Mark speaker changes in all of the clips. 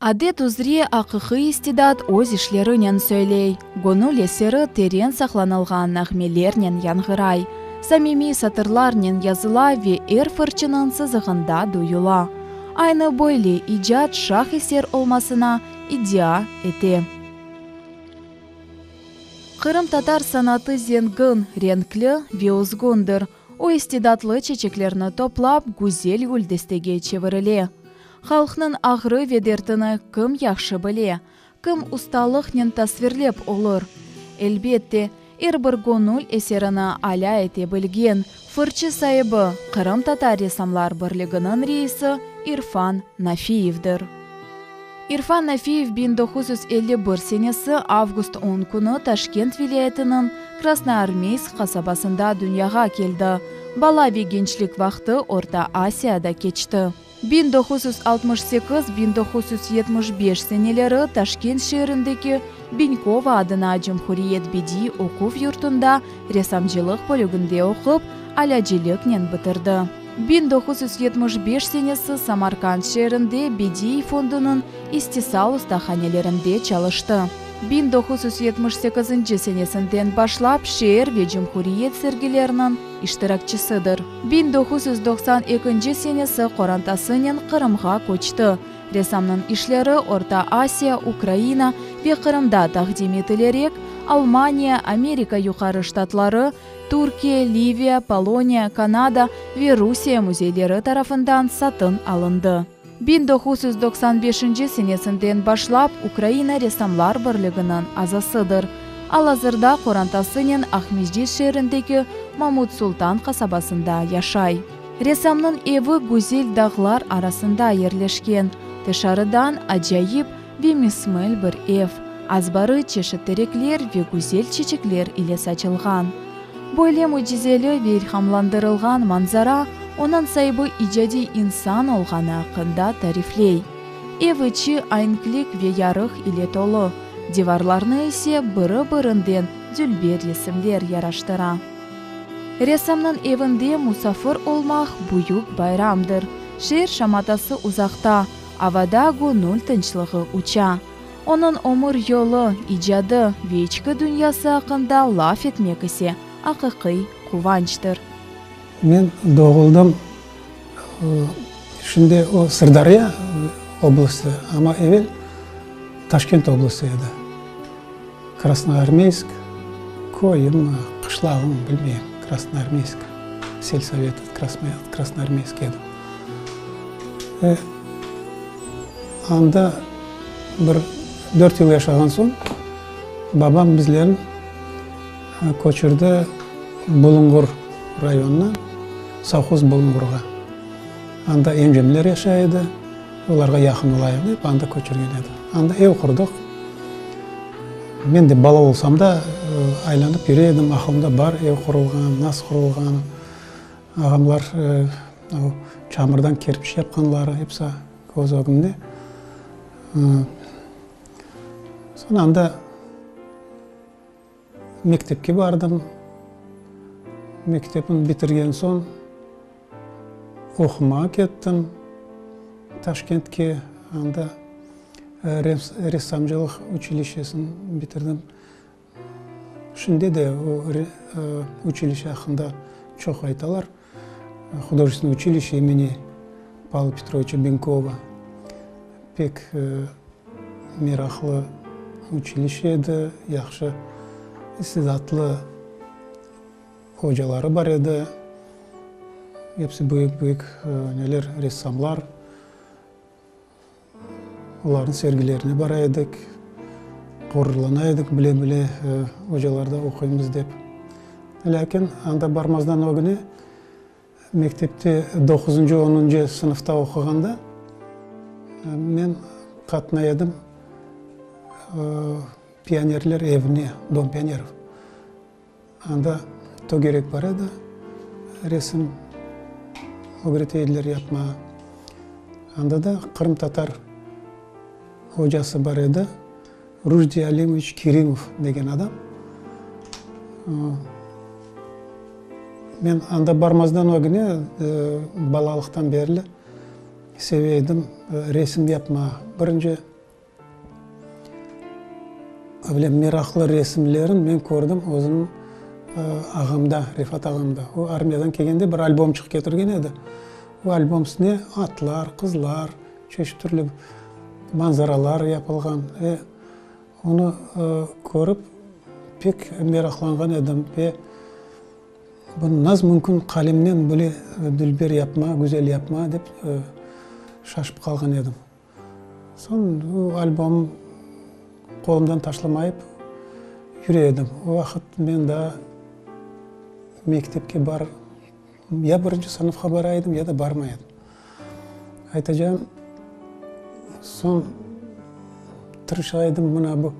Speaker 1: Adet üzre, aqiqiy istidat öz işlerinen söyley, göñül eseri teren saqlanılğan nağmelernen yanğıray, samimiy satırlarnen yazıla ve er fırçınıñ sızığında duyula. Aynı böyle, icat şah eser olmasına iddia ete. Qırımtatar sanatı zengin, renkli ve özgündir. O istidatlı çeçeklerni toplap, güzel güldestege çevirile. Halqnıñ ağrı ve dertini kim yahşı bile, kim ustalıqnen tasvirlep olur? Elbet de, er bir göñül eserini alâ ete bilgen fırçı saibi, Qırımtatar ressamlar birliginiñ reisi İrfan Nafiyevdir. İrfan Nafiyev biñ doquz yüz elli bir senesi avgust on künü Taşkent vilâyetiniñ Krasnoarmeysk qasabasında dünyağa keldi, bala ve gençlik vaqtı Orta Asiyada keçti. Biñ doquz yüz altmış sekiz, biñ doquz yüz yetmiş beş seneleri Taşkent şeerindeki Biñkova adına Cumhuriyet bediiy oquv yurtunda ressamcılıq bölüginde oqup, alâciliknen bitirdi. Biñ doquz yüz yetmiş beş senesi Samarkand şeerinde Bediiy fondunıñ istisal ustahanelerinde çalıştı. Biñ doquz yüz yetmiş sekizinci senesinden başlap şeer ve cumhuriyet sergileriniñ iştirakçisidir. Biñ doquz yüz doqsan ekinci senesi qorantasınen Qırımğa köçti. Ressamnıñ işleri Orta Asiya, Ukraina ve Qırımda taqdim etilerek, Almaniya, Amerika Yuqarı Ştatları, Türkiye, Liviya, Poloniya, Kanada ve Rusiye müzeyleri tarafından satın alındı. Biñ doquz yüz doqsan beşinci senesinden başlap Ukraina Ressamlar Birliginiñ azasıdır. Al-azırda qorantasınen Aqmescit şeerindeki Mamut Sultan qasabasında yaşay. Ressamnıñ evi güzel dağlar arasında yerleşken, tışarıdan acayip, Ve mismel bir ev, azbarı çeşit terekler ve güzel çeçekler ile saçılğan. Böyle mücizeli ve ilhamlandırılğan manzara onıñ saibi icadiy insan olğanı aqqında tarifley. Ev içi aenklik ve yarıq ile tolu, divarlarnı ise biri-birinden dülber resimler yaraştıra. Ressamnıñ evinde musafir olmaq büyük bayramdır. Şeer şamatası uzaqta. Avada göñül tınçlığı uça. Onıñ ömür yolu, icadı ve içki dünyası aqqında laf etmek ise, aqiqiy quvançtır. Men
Speaker 2: doğuldım, şimdi o Sırdarya oblasti, amma evel Taşkent oblasti edi. Krasnoarmeysk, köyümi, qışlağımı bilmeyim. Krasnoarmeysk, selsovet Krasnoarmeysk edim. Ve anda bir dört yıl yaşağan soñ, babam bizlerni köçürdi Bulungur rayonına, sovhoz Bulungurğa. Anda encemler yaşay edi. Olarğa yaqın olayıq dep, anda köçürgen edi. Anda ev qurdıq. Men de bala olsam da, aylanıp yüre edim, aqılımda bar ev qurulğanı, nasıl qurulğanı, ağamlar o çamırdan kerpiç yapqanları, hepsi köz ögümde. Soñ anda. Mektepke bardım. Mektepni bitirgen soñ, oqumağa kettim Taşkentke. Anda ressamcılıq uçilişesini bitirdim. Şimdi de o uçilişe aqqında çoq aytalar. Hudojestvennoye uçilişşe imeni Pavla Petroviçe Benkova, pek meraqlı uçilişşe edi, yahşı istidatlı hocaları bar edi, episi büyük-büyük neler, ressamlar. Olarnıñ sergilerine bara edik. Ğururlana edik, bile-bile ocalarda oquymız dep. Lâkin anda barmazdan ögüne, mektepte doquzıncı, onuncı sınıfta oquğanda men qatnay edim pionerler evine, Dom pionerov. Anda to gerek bar edi, resim ögretey ediler yapmağa. Anda da qırımtatar ocası bar edi, Rujdiy Alimovıç Kerimov degen adam. Men anda barmazdan ögüne balalıqtan berli seve edim resim yapmağa. Birinci. Böyle meraqlı resimlerin men kördim özüm ağamda, Refat ağamda. O armiyadan kelgende bir albomçıq ketirgen edi. O albom üstüne atlar, qızlar, çeşit türlü manzaralar yapılğan. Ve onı körip pek meraqlanğan edim. Ve bunı nasıl mümkün qalemnen böyle dülber yapma, güzel yapma dep şaşıp qalğan edim. Soñ o albom qolumdan taşlamayıp yüre edim. O vaqıt men daa mektepke bar, ya birinci sınıfqa bara edim, ya da barmay edim. Aytacağım, soñ tırışa edim mına bu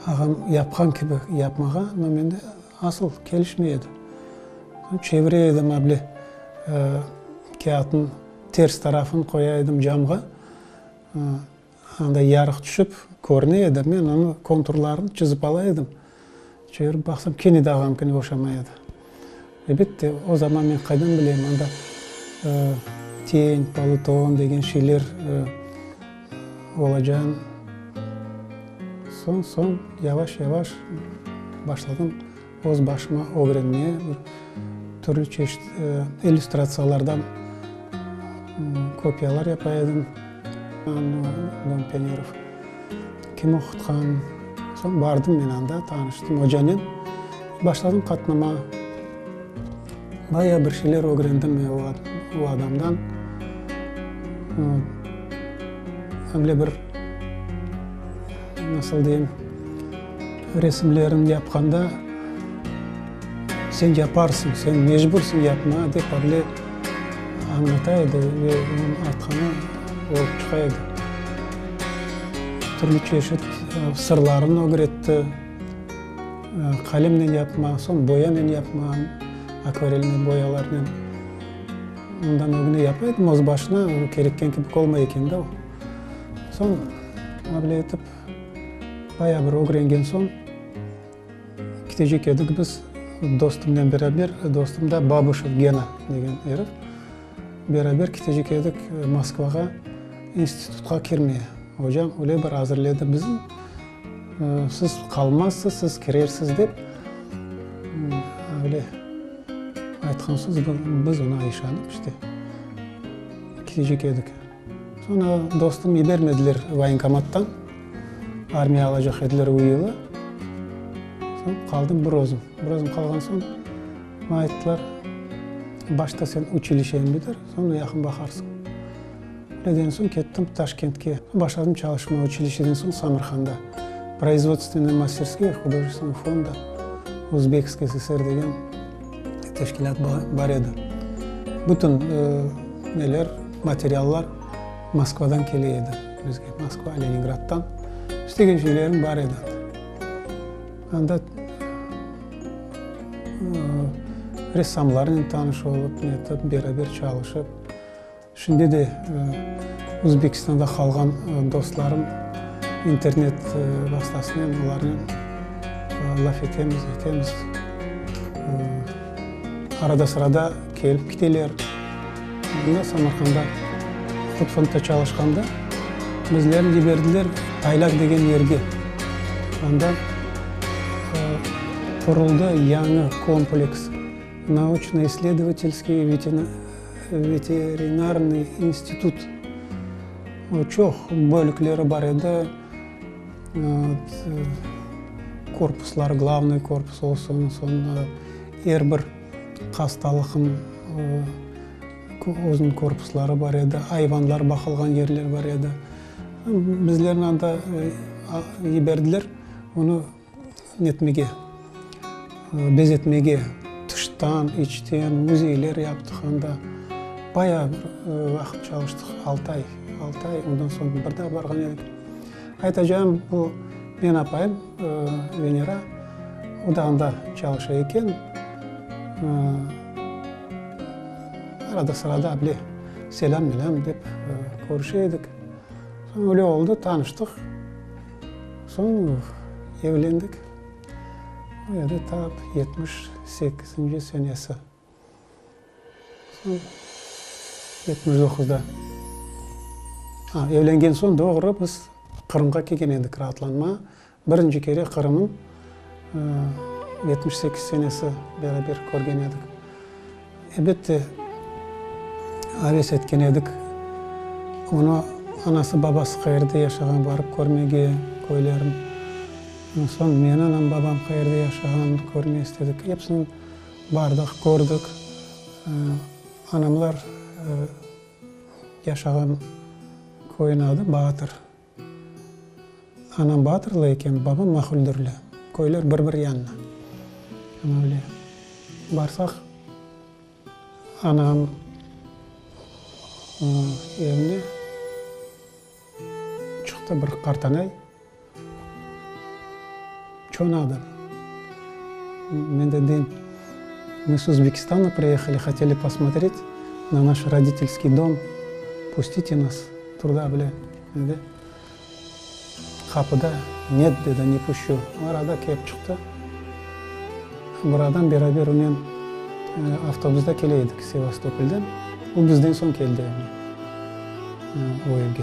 Speaker 2: ağam yapqan kibi yapmağa, amma mende asıl kelişmey edi. Soñ çevire edim able kâğıtnı. Ters tarafın qoya edim camğa, anda yarıq tüşip körüne edi, men onı konturlarını çizip ala edim. Çevirip baqsam, kene de ağamkine oşamay edi. Elbette, o zaman men qaydan bileyim, anda teń, polutón degen şeyler olacağını. Soñ, soñ, yavaş-yavaş başladım. Öz başıma ögrenme, türlü çeşit illüstratsiyalardan kopiyalar yapa edim. Don Penerov kim oqutqan. Soñ bardım men anda, tanıştım ocanen. Başladım qatnama. Bayağı bir şeyler ögrendim men o adamdan. Öyle bir, nasıl deyim, Resimlerini yapqanda, sen yaparsıñ, sen mecbursıñ yapmağa, dep Avle añlata edi ve onıñ artqanı olıp çıqa edi. Türlü çeşit sırlarını ögretti, qalemnen yapmaq, soñ boyanen yapmaq, akvarelniñ boyalarınen. Ondan ögüne yapa edim, öz başına, kerekken kibi olmay eken de o. Soñ, Avle etip. Bayağı bir ögrengen soñ, ketecek edik biz dostumnen beraber, dostum da Babuşev Gena degen erif. Beraber ketecek edik Moskvağa institutqa kirmeye. Ocam öyle bir azırledi bizni, siz qalmazsız, siz kirersiz dep. Öyle aytqan soñ biz ona işanıp işte, ketecek edik. Soñra dostum yibermediler voyenkomattan, armiya alacaq ediler o yılı. Soñ qaldım bir özüm. Bir özüm qalğan soñ, maña ayttılar, başta sen uçilişeni bitir, soñra yaqın baqarsıñ. Öyle degen soñ kettim Taşkentke. Başladım çalışmağa uçilişeden soñ Samırqanda, Proizvodstvenaya masterskaya hudojestvenaya fonda Uzbekskaya SSR degen. teşkilât bar edi. Bütün neler, materiallar Moskvadan kele edi bizge, Moskva, Leningraddan. İstegen şeylerim bar edi anda. Anda ressamlarnen tanış olıp, netip, beraber çalışıp. Şimdi de Özbekistanda qalğan dostlarım internet vastasınen olarnen laf etemiz, aytemiz. Arada-sırada kelip kiteler. Mında Samarqanda hut fondta çalışqanda bizlerni ciberdiler Aylak degen yerge. Anda quruldı yañı kompleks, Nauçno-isledovatelskiy Veterinarnıy institut çoq bölükleri bar edi, korpuslar, glavnıy korpus olsun, soñra er bir hastalıqnıñ özüniñ korpusları bar edi, ayvanlar baqılğan yerler bar edi. Bizlerni anda yiberdiler, onı etmege, bezetmege, tıştan, içten müzeyler yaptıq anda. Bayağı bir vaqıt çalıştıq, altı ay, altı ay. Ondan soñ bir daa barğan edik. Aytacağım, bu meñ apayım, Venera, o da anda çalışa eken. Arada sırada bile selâm-melâm dep körüşe edik. Soñ öyle oldı, tanıştıq. Soñ evlendik. O edi tap yetmiş sekizinci senesi. Soñ yetmiş doquzda. A, evlengen soñ doğru biz Qırımğa kelgen edik raatlanma. Birinci kere Qırımnıñ yetmiş sekiz senesi beraber körgen edik. Elbette, aves etken edik. Onı anası-babası qayerde yaşağan barıp körmege, köylerin. Soñ meni anam-babam qayerde yaşağan körme istedik. Epsini bardıq, kördik. Anamlar yaşağan köyün adı Baatır. Anam Batırlı eken, babam Mahuldürli. Köyler bir-bir yanına. Ana öyle. Barsaq, anam evine çıqtı bir qartanay. Çonadır. Men de deyim, mı s Özbekistana priyahali, hoteli posmotret na naş roditelskiy dom, pustite nas truda bile, dedi. Qapıda, net, dedi, ne puşçu. O arada kep çıqtı. Bir adam beraber unen avtobusda kele edik Sevastopoldan. O bizden soñ keldi o evge.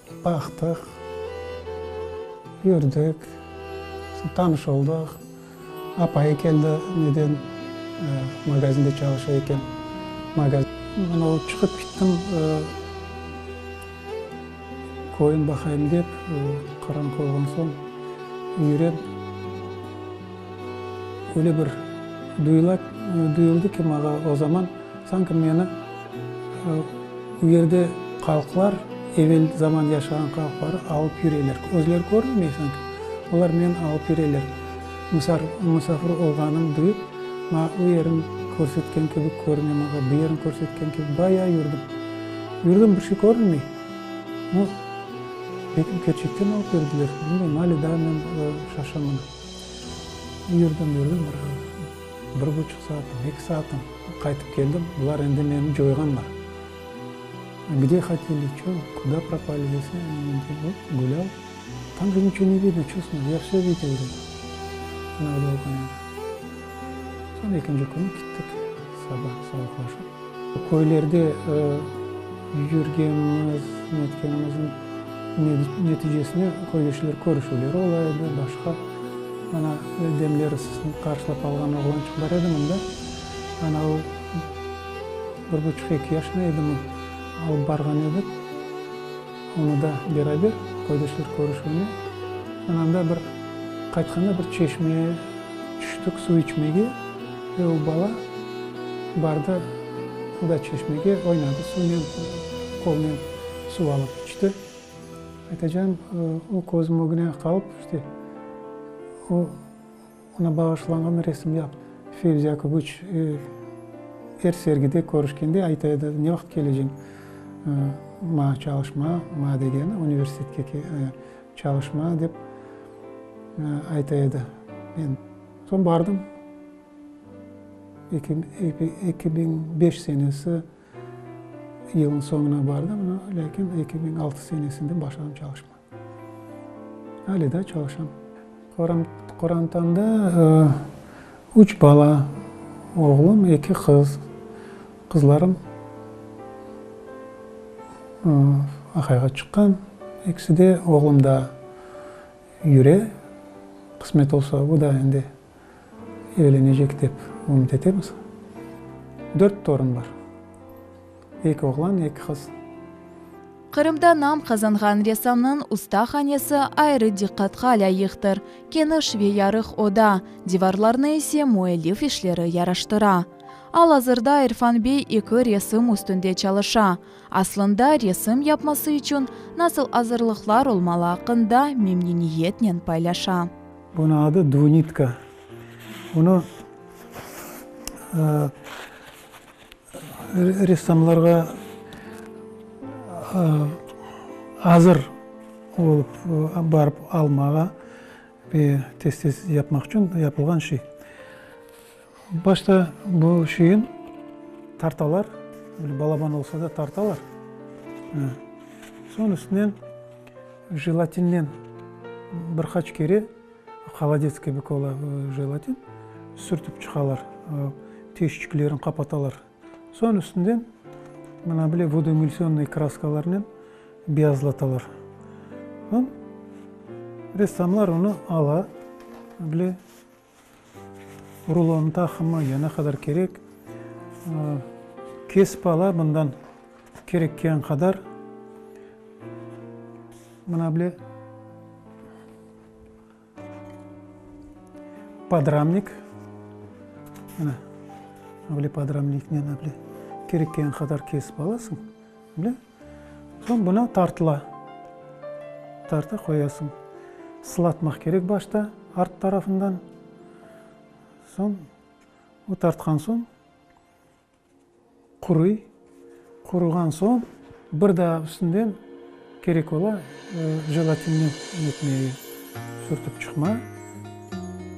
Speaker 2: Baqtıq, yürdik, tanış oldıq. Apayı keldi, neden magazinde çalışa eken. Men olıp çıqıp kettim, köreyim baqayım dep, qaranqı olğan soñ yürem. Öyle bir duyuldı ki, mağa o zaman, sanki meni. O yerde halqlar, evel zaman yaşağan halqları alıp yüreler. Özleri körmemey sanki, olar meni alıp yüreler. Musafir olğanım duyıp, maña o yerin körsetken kibi körüne, maña bu yerin körsetken kibi. Bayağı yürdim. Yürdim, bir şey körünmey. No, belki kerçekten alıp yürdiler, bilmeyim, ali daa men şaşaman. Yürdim, yürdim, bir ara. Bir buçuq saatim, eki saatim qaytıp keldim, bular endi meni coyğanlar. Gde hateli, ço, kuda propali dese, men dedim, o, gulâv, tam da niço ne vidno, çustno, ya vsö vite vde, anavde olğan edi. Soñ ekinci künü kettik, saba, sabahlaşıp. Köylerde yürgenimiz, netkenimizniñ neticesinde köylüçiler körüşüvleri ola edi, başqa. Ana, demleri sısınıp qarşılap alğan oğlançıq bar edi mında. Ana, o bir buçuq-eki yaşında edi, alıp barğan edik. Onı da beraber Qoydeşler körüşüvine ananda bir qaytqanda bir çeşmeye tüştik suv içmege ve o bala bardı o da çeşmege oynadı suvnen qolnen suv alıp içti. Aytacağım o közüm ögüne qalıp işte o Oña bağışlanğan resimler Fevzi Akıbıç er sergide körüşkende ayta edi, ne vaqıt keleceñ maña çalışmağa, maña degeni universitetke çalışmağa dep ayta edi. Men soñ bardım, eki biñ beş senesi yılnıñ soñuna bardım, lâkin eki biñ altı senesinde başladım çalışmağa. Hâli daa çalışam. Qorantamda üç bala, oğlum, eki qız. Qızlarım aqayğa çıqqan, ikisi de, oğlum daa yüre, qısmet olsa, o da endi. Evlenecek dep ümüt etemiz. Dört torun bar. Eki oğlan, eki qız.
Speaker 1: Qırımda nam qazanğan ressamnıñ usta hanesi ayrı diqqatqa lâyıqtır, keniş ve yarıq oda, divarlarına ise müellif işleri yaraştıra. Al-azırda İrfan bey eki resim üstünde çalışa. Aslında, resim yapması içün nasıl azırlıqlar olmalı aqqında memnüniyetnen paylaşa. Bunıñ adı
Speaker 2: dvunitka. Bunı ressamlarğa azır olıp barıp almağa ve tez-tez yapmaq içün yapılğan şey. Başta bu şeyin tartalar, böyle balaban olsa da tartalar, soñ üstünen jelatinnen bir qaç kere, holadets kibi ola jelatin, sürtip çıqalar, tüyüşçiklerin qapatalar, soñ üstünden mına bile vodoemulsiyonnıy kraskalarnen beyazlatalar. Soñ ressamlar onı ala, mına bile. Rulonıñ taqımı ya ne qadar kerek, kesip ala bundan kerekken qadar. Mına bile podramnik, mına bile podramniknen kerekken qadar kesip alasıñ, bile. Soñ buna tartıla. Tarta qoyasıñ. Sılatmaq kerek başta art tarafından. Soñ o tartqan soñ quruy. Quruğan soñ bir daa üstünden kerek ola jelatinni ne etmege, sürtip çıqma.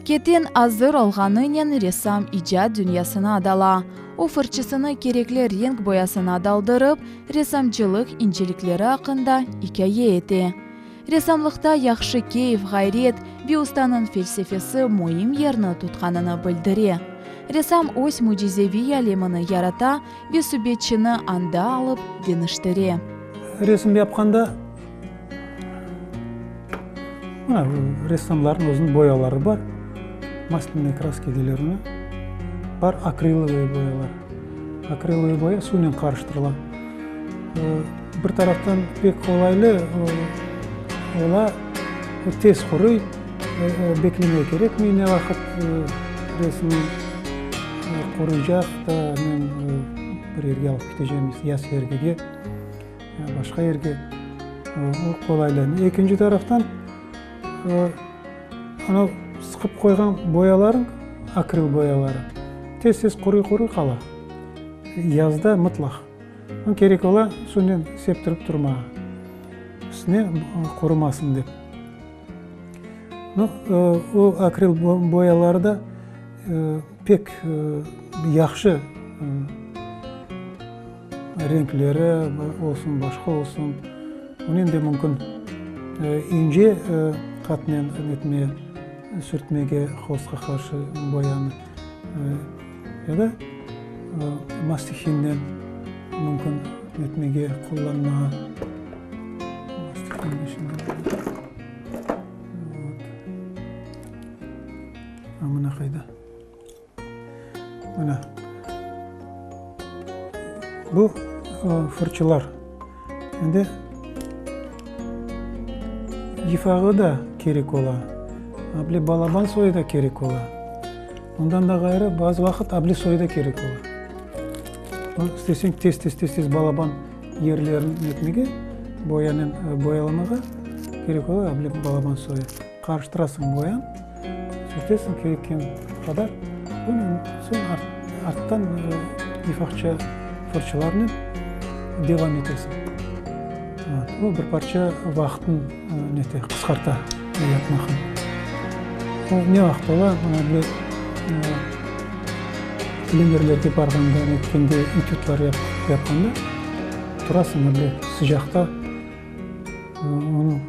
Speaker 1: Keten azır olğanınen ressam icat dünyasına dala. O, fırçasını kerekli renk boyasına daldırıp, ressamçılıq incelikleri aqqında ikâye ete. Ressamlıqta yahşı keyf, ğayret, bir ustanıñ felsefesi müim yerni tutqanını bildire. Ressam öz mücizeviy alemini yarata ve subetçini anda alıp deñiştire. Resim
Speaker 2: yapqanda Ressamlarnıñ özüniñ boyaları bar, maslenıy kraska deyilir. Bar akrillıy boyalar. Akrillıy boya suvnen qarıştırıla. Bir taraftan pek qolaylı, ola tez quruy, beklemek kerekmey ne vaqıt resim quruycaq, bir yerge alıp keteceğimiz ya sergige. ya başqa yerge qolaylaydı. Ekinci taraftan, anav sıqıp qoyğan boyalarıñ, akril boyaları, tez-tez quruy-quruy qala, yazda mıtlaq. Onı kerek ola suvnen septirip turmağa, üstüne qurumasın dep. Nı, o akril boyaları da pek yahşı. Renkleri olsun, başqa olsun, bunı endi mümkün ince qatnen etmeye, sürtmege, holstqa qarşı boyanı. Ya da mastihinnen mümkün etmege, qullanmağa. Mına qayda. Mine, bu fırçalar. Şimdi yifağı da kerek ola, able balaban soyu da kerek ola. Ondan da ğayrı, bazı vaqıt able soyu da kerek ola. Bunı isteseñ tez-tez, tez-tez balaban yerlerini ne etmege, boyanen boyalamağa kerek ola able balaban soyu. Qarıştırasıñ boyan, sürtesiñ kerekken qadar, onıñ soñ arttan lifahça fırçalarnen devam etesiñ. O bir parça vaqıtnı nete, qısqarta bu yapmaqnı. O ne vaqıt ola, mana bile plenerlerge barğanda, netkende, etüdler yapqanda, turasıñ, bir sıcaqta onı.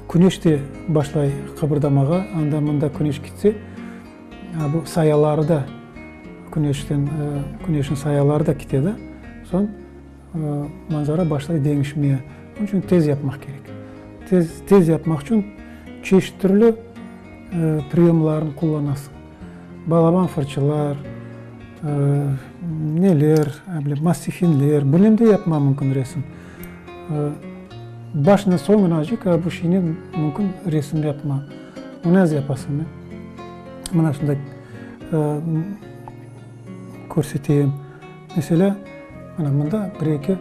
Speaker 2: Küneş de başlay qıbırdamağa, anda-mında küneş kitse, bu sayaları da, küneşten, küneşniñ sayaları da kite da, soñ manzara başlay deñişmeye. Onıñ içün tez yapmaq kerek. Tez, tez yapmaq içün çeşit türlü priyomlarnı qullanasıñ. balaban fırçalar, neler, mastifinler, bunen de yapmaq mümkün resim. Başına soñunacık bu şeynen mümkün resim yapmaq. Bunı naz yapasıñ mı? Mına şunda körseteyim. Meselâ, mına mında bir-eki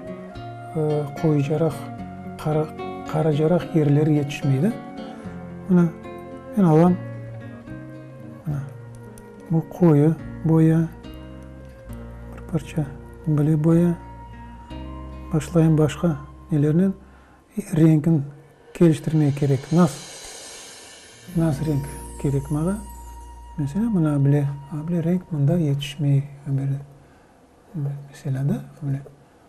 Speaker 2: qoyucaraq, qaracaraq yerleri yetişmeydi. Mına, men alam. Bu qoyu boya, bir parça bile boya. Başlayım başqa nelernen. Renkini keliştirmek kerek. Nas, nas renk kerek maña. Meselâ, mına bile, bile renk mında yetişmey. Böyle, böyle, meselâ da, böyle.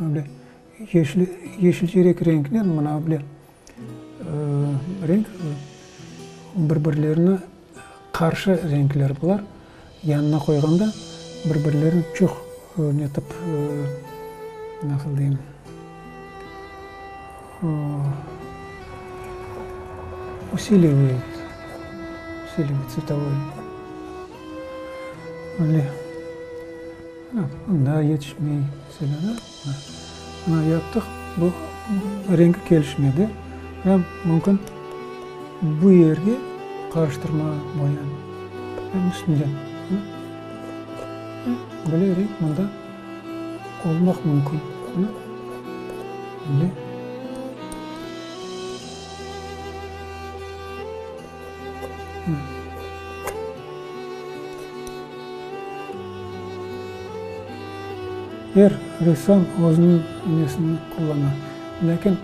Speaker 2: Böyle yeşil, yeşilcerek renknen mına böyle renk, bir-birlerine qarşı renkler bular. Yanına qoyğanda bir-birlerini çoq netip, nasıl deyim, usiliviy, usiliviy, tsvetovoi. Böyle. Daa yetişmey selâna. Mına yaptıq, bu rengi kelişmedi. Hâm, mümkün bu yerge qarıştırma boyanı hâm üstünden. Böyle renk mında olmaq mümkün. Böyle. Er ressam özüniñ üñesini qullana, lâkin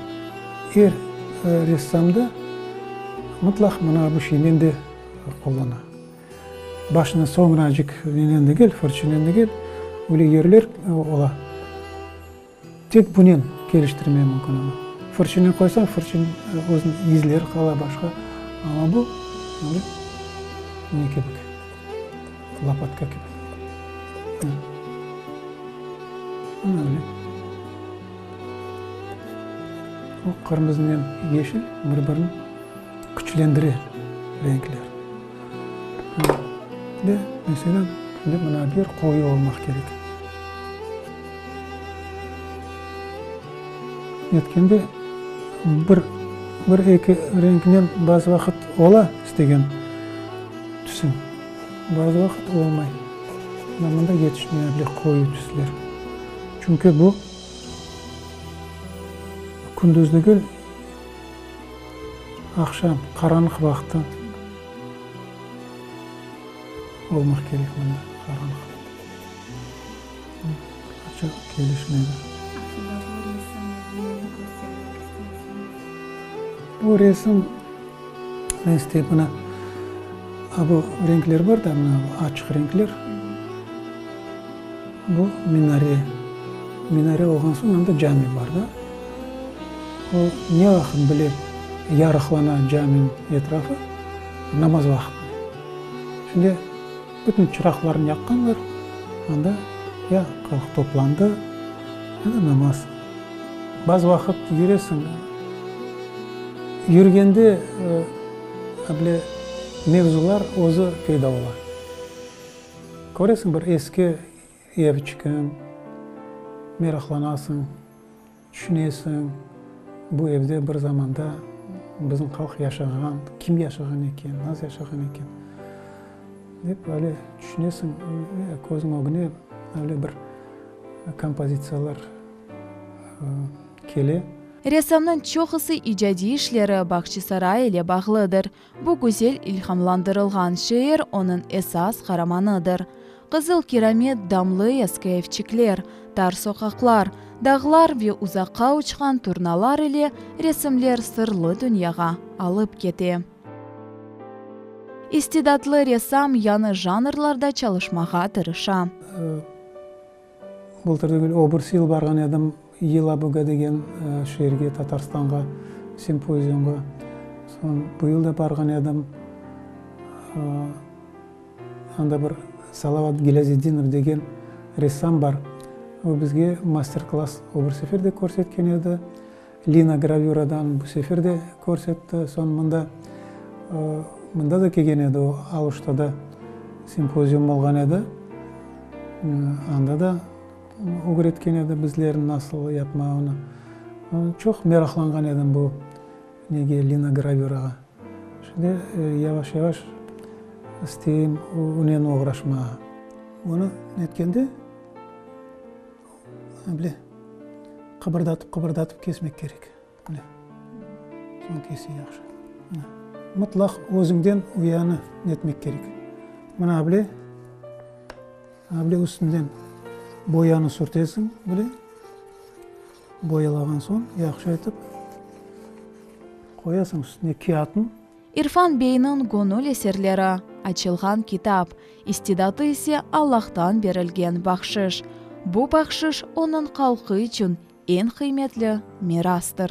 Speaker 2: er ressam da mıtlaq mına bu şeynen de qullana. Başını soñracık nenen degil, fırçanen degil, öyle yerler ola. Tek bunen keliştirmege mümkün onı. Fırçınen qoysañ, fırçın özün izleri qala başqa, amma bu böyle ne kibik, lapatka kibik. Mına. Mına öyle. Bu qırmızınen yeşil bir birini küçlendire renkler. Mına, de, meselem, şimdi mına bir qoyu olmaq kerek. Netkende, bir, bir eki renknen bazı vaqıt ola istegen tüsün, bazı vaqıt olmay. Mına mında yetişmey âbile qoyu tüsler. Çünki bu, kündüz degil, Aqşam, qaranlıq vaqtı olmaq kerek mına, qaranlıq. Açıq kelişmedi. Bu resim, men isteyim mına, bu renkler bar da, mına açıq renkler. Bu minare. Minare olğan soñ anda cami bar da. O ne vaqıt bile yarıqlana caminiñ etrafı, namaz vaqıtı. Şimdi bütün çıraqlarnı yaqqanlar, anda ya halq toplandı, ya da namaz. Bazı vaqıt yüresini. Yürgende böyle mevzular özü peyda ola. Köresiñ, bir eski ev çıkan, meraqlanasıñ, tüşünesiñ, bu evde bir zamanda bizim halq yaşağan, kim yaşağan eken, nasıl yaşağan eken, dep öyle tüşünesiñ, közüñ ögüne öyle bir kompozitsiyalar kele. Ressamnıñ
Speaker 1: çoqusı icadiy işleri Bağçasaray ile bağlıdır. Bu güzel ilhamlandırılğan şeer onıñ esas qaramanıdır. Qızıl Kiramet, damlı eski evçikler, tar soqaqlar, dağlar ve uzaqqa uçqan turnalar ile resimler sırlı dünyağa alıp kete. İstidatlı ressam yañı janrlarda çalışmağa tırışa.
Speaker 2: Bultır degil, öbürs yıl barğan edim Yelabıga degen şeerge, Tatarstanğa, simpoziumğa. Soñ bu yıl da barğan edim. Anda bir Salavat Gilâziddinov degen ressam bar. O bizge master-klass öbür sefer de körsetken edi. Lina gravüradan bu sefer de körsetti. Soñ mında, mında da kelgen edi o, Aluştada simpozium olğan edi. Anda da ögretken edi bizlerni nasıl yapmağını. Çoq meraqlanğan edim bu nege, lina gravürağa. Şimdi yavaş-yavaş isteyim onen oğraşmağa. Onı netkende... Onı bile qıbırdatıp-qıbırdatıp kesmek kerek. Bile. Soñ kese yahşı. Mına. Mıtlaq özüñden uyanı netmek kerek. Mına bile. Mına bile üstünden boyanı sürtesiñ bile. Boyalağan soñ yahşı etip qoyasıñ üstüne kâğıtnı. İrfan
Speaker 1: beyniñ göñül eserleri, açılğan kitap, istidadı ise Allahtan berilgen bahşış. Bu bahşış onıñ halqı içün eñ qıymetli mirastır.